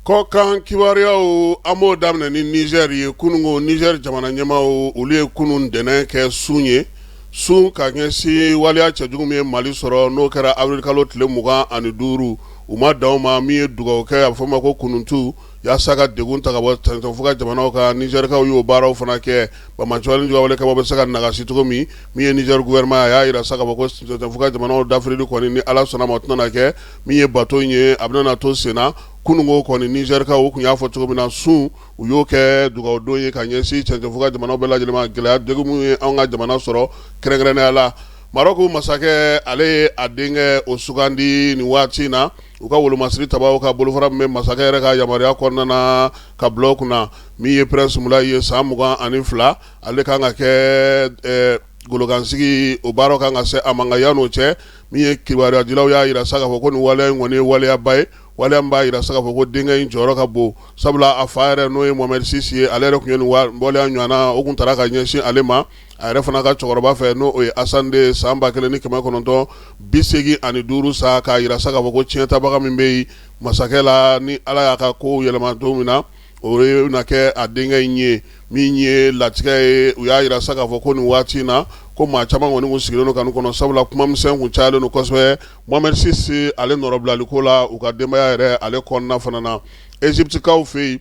Kɔkan kibaruyaw an b'o daminɛ ni Niger ye kununko Niger jamana ɲɛmaaw olu ye kunun ntɛnɛn kɛ sun ye sun ka ɲɛsin waliya cɛjugu min ye mali sɔrɔ n'o kɛra awirili kalo tile mugan ani duuru u ma dan o ma min ye dugawu kɛ a bɛ fɔ ma ko kunutu yaasa ka degun ta ka bɔ cɛncɛnfuga jamanaw kan Nigerkaw y'o baaraw fana kɛ banbaanciya wale kaba bɛ se ka nagasi cogo min min ye Niger gouvernement a y'a jira sa k'a fɔ ko cɛncɛnfuga jamanaw dafirili kɔni ni ala sɔnna ma tɛna kɛ min ye bato in ye a bɛna to senna kununko kɔni Nigerkaw kun y'a fɔ cogo min na sun u y'o kɛ dugawudon ye ka ɲɛsin cɛncɛnfuga jamanaw bɛɛ lajɛlen ma gɛlɛya degun min ye an ka jamana sɔrɔ kɛrɛnkɛrɛnnenya la Marɔku masakɛ ale ye a denkɛ o sugandi nin waati in na u ka wolomasiri tabaw ka bolofara min bɛ masakɛ yɛrɛ ka yamaruya kɔnɔna na k'a bila o kunna min ye prince Moulay ye san mugan ani fila ale kan ka kɛ golokansigi o baaraw kan ka se a ma nka yan n'o cɛ min ye kibaruyadilaw y'a jira sa k'a fɔ ko nin waleya in kɔni ye waleyaba ye waleya min b'a jira sa k'a fɔ ko denkɛ in jɔyɔrɔ ka bon sabula a fa yɛrɛ n'o ye Mohamed six ye ale yɛrɛ kun ye nin waleya ɲɔgɔnna o kun taara ka ɲɛsin ale ma a yɛrɛ fana ka cɛkɔrɔba fɛ n'o ye Hassan deux ye san ba kelen ni kɛmɛ kɔnɔntɔn bi segin ani duuru sa k'a jira sa fɔ ko tiɲɛtabaga min bɛ yen masakɛ la ni ala y'a ka kow yɛlɛma don min na O ye na kɛ a denkɛ in ye min ye latigɛ ye u y'a jira sa k'a fɔ ko nin waati in na ko maa caman kɔni kun sigilen don ka nin kɔnɔ sabula kuma misɛn kun cayalen don kosɛbɛ Mohamed six ale nɔrɔbilaliko la u ka denbaya yɛrɛ ale kɔnɔna fana na Egyptekaw fɛ yen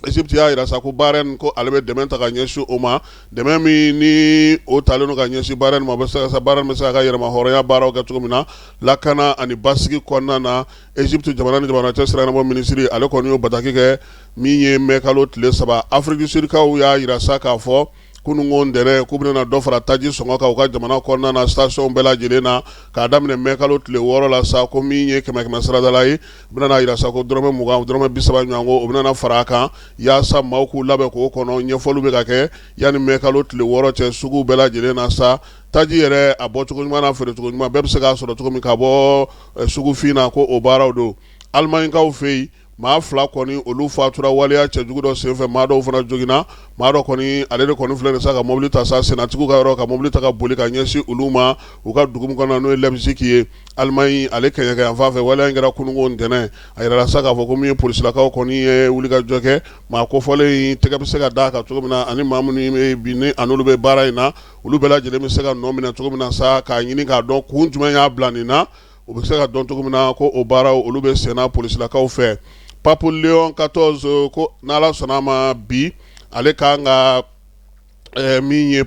Egypte y'a jira sa ko Bahreïn ko ale bɛ dɛmɛ ta ka ɲɛsin o ma dɛmɛ min ni o talen don ka ɲɛsin Bahreïn ma Bahreïn bɛ se k'a ka yɛrɛmahɔrɔnya baaraw kɛ cogo min na lakana ani basigi kɔnɔna na Egypte jamana ni jamana cɛ sirabɔ minisiri ale kɔni y'o bataki kɛ min ye mɛkalo tile saba Afrique du Sud kaw y'a jira sa k'a fɔ kununko ntɛnɛn k'u bɛna dɔ fara taji sɔngɔ kan u ka jamana kɔnɔna na stationw bɛɛ lajɛlen na k'a daminɛ mɛkalo tile wɔɔrɔ la sa ko min ye kɛmɛ kɛmɛ saradala ye u bɛna jira sa ko dɔrɔmɛ mugan dɔrɔmɛ bisaba ɲɔgɔn o bɛna fara a kan yaasa maaw k'u labɛn k'o kɔnɔ ɲɛfɔli bɛ ka kɛ yan ni mɛkalo tile wɔɔrɔ cɛ sugu bɛɛ lajɛlen na sa taji yɛrɛ a bɔ cogo ɲuman n'a feerecogo ɲuman bɛɛ bɛ se k'a sɔrɔ cogo min ka bɔ sugufin na ko o baaraw don Alimaɲikaw fɛ yen maa fila kɔni olu fatura waleya cɛjugu dɔ senfɛ maa dɔw fana joginna maa dɔ kɔni ale de kɔni filɛ sa ka mobili ta sa sennatigiw ka yɔrɔ ka mobili ta ka boli ka ɲɛsin olu ma u ka dugu min kɔnɔ n'o ye Leipzig ye Alimaɲi ale kɛɲɛka yanfan fɛ waleya in kɛra kunun ntɛnɛn a jirala sa k'a fɔ ko min ye polisilakaw kɔni ye wulikajɔ kɛ maa kofɔlen in tɛgɛ bɛ se ka d'a kan cogo min na ani maa minnu bɛ ani olu bɛ baara in na olu bɛɛ lajɛlen bɛ se ka nɔ minɛ cogo min na sa k'a ɲini k'a dɔn kun jumɛn y'a bila nin na u bɛ se ka dɔn cogo min na ko o baaraw olu bɛ senna polisilakaw fɛ pape Léon quatorze ko n'ala sɔnna a ma bi ale kan ka min ye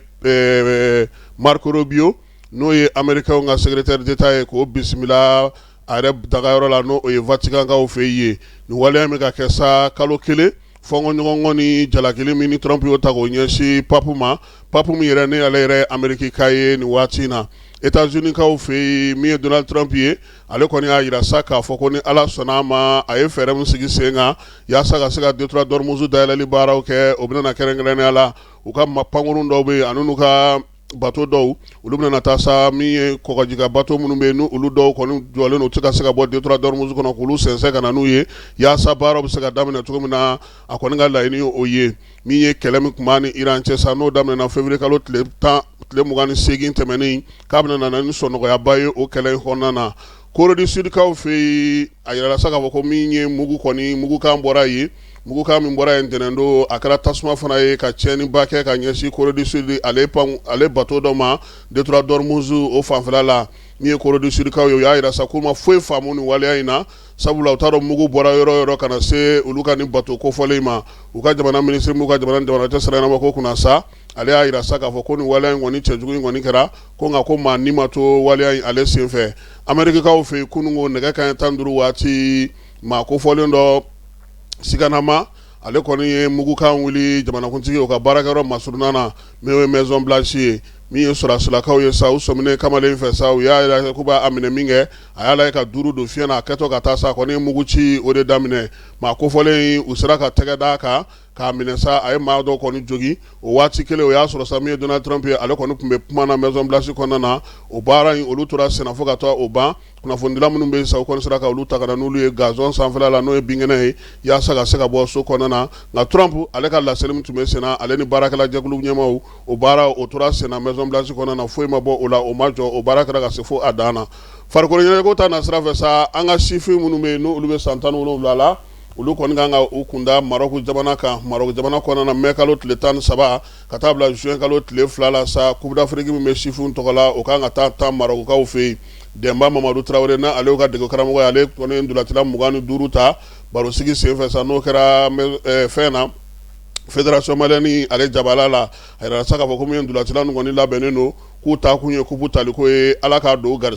Marco Rubio n'o ye amerikɛnw ka secrétaire d'État ye k'o bisimila a yɛrɛ dagayɔrɔ la n'o ye Vaticankaw fɛ yen ye, nin waleya in bɛ ka kɛ sa kalo kelen fɔnkɔɲɔgɔnkɔ ni jalakili min ni Trump y'o ta k'o ɲɛsin Pape ma, Pape min yɛrɛ ni ale yɛrɛ ye Amerikika ye nin waati in na Etats Unis kaw fɛ yen min ye Donald Trump ye, ale kɔni y'a yira sa k'a fɔ ko ni Ala sɔnn'a ma, a ye fɛɛrɛ min sigi sen kan yaasa ka se ka Detroit d'Ormuz dayɛlɛli baaraw kɛ, o bɛna na kɛrɛnkɛrɛnnenya la u ka pankurun dɔw bɛ yen ani n'u ka bato dɔw olu bɛna taa sa min ye kɔgɔji kan bato minnu bɛ yen n'olu dɔw kɔni jɔlen u tɛ ka se ka bɔ Detroit d'Ormuz kɔnɔ k'olu sɛnsɛn ka na n'u ye yaasa baaraw bɛ se ka daminɛ cogo min na a kɔni ka laɲini o ye min ye kɛlɛ min tun b'a ni Iran cɛ sa n'o daminɛna février kalo ti tile mugan ni seegin tɛmɛnen k'a bɛna na ni sɔnɔgɔyaba ye o kɛlɛ in kɔnɔna na Corée du Sud kaw fɛ yen a yirala sa k'a fɔ ko min ye mugu kɔni mugukan bɔra yen mugukan min bɔra yen ntɛnɛn don a kɛra tasuma fana ye ka tiɲɛniba kɛ ka ɲɛsin Corée du Sud ale bato dɔ ma Detroit d'Ormuz o fanfɛla la min ye Corée du Sud kaw ye u y'a yira sa k'u ma foyi faamu nin waleya in na sabula u t'a dɔn mugu bɔra yɔrɔ yɔrɔ ka na se olu ka nin bato kofɔlen in ma u ka jamana minisiri min bɛ jamana cɛ sira ɲɛnama ko kunna sa ale y'a yira sa k'a fɔ ko nin waleya in kɔni cɛjugu in kɔni kɛra ko nka ko maa ni ma to waleya in ale senfɛ Amerikikaw fɛ yen kunun ko nɛgɛ kanɲɛ tan ni duuru waati maa kofɔlen dɔ siganama ale kɔni ye mugukan wuli jamanakuntigi o ka baarakɛyɔrɔ masurunna na min ye Maison Blanche ye min ye sɔrɔsilakaw ye sa u sɔminen kamalen fɛ sa u y'a yira k'u b'a minɛ min kɛ a y'a lajɛ ka duuru don fiɲɛ na a kɛtɔ ka taa sa a kɔni ye mugu ci o de daminɛ maa kofɔlen u sera ka tɛgɛ d'a kan k'a minɛ sa a ye maa dɔ kɔni jogin o waati kelen o y'a sɔrɔ sa min ye Donald Trump ye ale kɔni tun bɛ kuma na Maison Blanche kɔnɔna na o baara in olu tora senna fo ka taa o ban kunnafonidila minnu bɛ yen sa u kɔni sera ka olu ta ka na n'olu ye gazon sanfɛla la n'o ye binkɛnɛ ye yaasa ka se ka bɔ so kɔnɔna na nka Trump ale ka laseli min tun bɛ senna ale ni baarakɛla jɛkulu ɲɛmaaw o baara o tora senna Maison Blanche kɔnɔna na foyi ma bɔ o la o ma jɔ o baara kɛra ka se fo a dan na farikolo ɲɛnajɛko ta nasira fɛ sa an ka sifin minnu bɛ yen n'olu bɛ san tan ni wolonwula la olu kɔni kan ka u kunda Maroc jamana kan Maroc jamana kɔnɔna na mai kalo tile tan ni saba ka taa bila juin kalo tile fila la sa coupe d'Afrique min bɛ sifinw tɔgɔ la o kan ka taa tan Maroc kaw fɛ yen Dɛnba Mamadu Tarawele n'ale y'u ka degekaramɔgɔ ye ale kɔni ye ndolatila mugan ni duuru ta barosigi senfɛ sa n'o kɛra eh, fɛn na federation malienne ale jabala la a yirala sa k'a fɔ ko min ye ndolatila ninnu kɔni labɛnnen don k'u taakun ye coupe taliko ye Ala k'a don garisɛgɛ